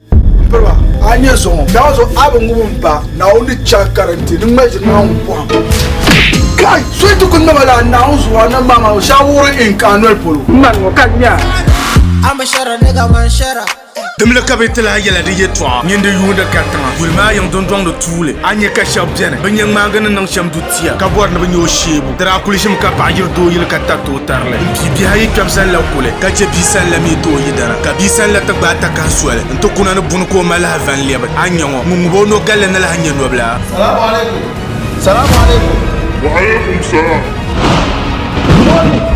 M piriba, a yi nya zuɣu ŋɔ, daa ŋɔ zuɣu a bi ŋub m ba, Naawuni ni chɛ a kariti, ni ŋmali ʒiri Naawuni pɔhim. Kai! So yi ti ku naba lala Naawuni zuɣu a nambaa maa zuɣu, shɛba wuɣiri in ka a noli polo. M mani ŋɔ ka n nya. Dimli ka bɛ ti lahi yɛla di yɛtɔɣa, Nyin di yuuni ka tiŋa, Guli maa yiŋ dundɔŋ ni tuuli, A ni nya ka shɛb beni, Bɛ nya ŋmaagi ni niŋ shɛm du tiŋa. pia ka bɔri ni bɛ nya o sheebu. Di daa kuli ʒimi ka paɣa yiri doo yili ka tari ti o tarili. Bɛ pii bihi ayi kpɛbu zaŋ labi kuli ka chɛ bia sani la mi ti o yidana. Ka bia sani la ti gbaai takahi soli nti kuna ni buni ka o ma lahi va n-lɛbi. A nya ŋɔ, ŋun ŋub o noo galli ni lahi nya nɔbila. Salamu alaikum! Salamu alaikum! Wa alaikum salam! Mɔni!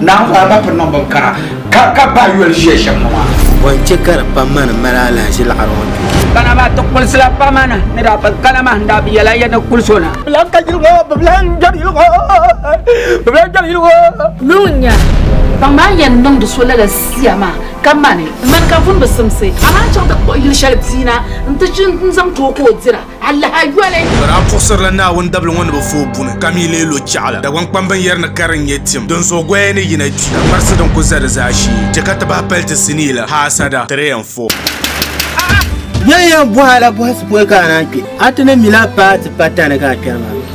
Naa ŋɔ alima piri niŋ bin kara ka ka bahi yoli ʒiya shɛm ŋɔ maa. Bɔ n chɛ ka di pam ma ni mali alahiʒi laɣiri ŋɔ duu? Kana maa ti kulisila pam a ni ni daa pun kana maa n daa bi yɛli a ya ni kuli so na. Bɛ lan ka yili ŋɔ, bɛ bi lan gbɛri yili ŋɔ, bɛ bi lan gbɛri yili ŋɔ. Lu n nya, baŋ maa n yɛn niŋdi so lala sia maa ka mani. Mani ka vun bi simsi, amaa n chaŋ ti kpuɣi yili shɛli bia na nti chi n zaŋ ti o ka o dira. Alaha yoli. Ka daa puɣisirila Naawuni dabili ŋɔ ni bɛ fu o buni, ka mi leei lo chɛɣu la. Dagbaŋ kpamba n-yɛri ni kari n-nyɛ tim, dinzuɣu goya ni yina kpi, ka kparisi din ku za di zaashee chɛ ka ti bahi pali ti sinii la. Haasada 3 and 4. Yɛliya bɔha la bɔhisi pɔi ka a naan kpe? A ti ni mi la a paai ti pa tani ka a kpɛri maa?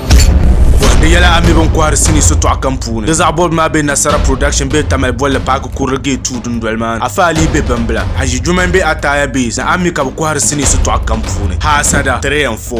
Bɔhindi yɛla a mi bɛ ni kɔhiri sinii sitɔɣu kam puuni. Di zaɣ bɔbigu maa be Nasara Production bee Tamale bolli paaki kurili Gate 2 dundoli maa ni. Afa Alii be Bimbila, Haji Jummai be Ataaya Base ni Ammi ka bɛ kɔhiri sinii sitɔɣu kam puuni. Haasada, 3 and 4.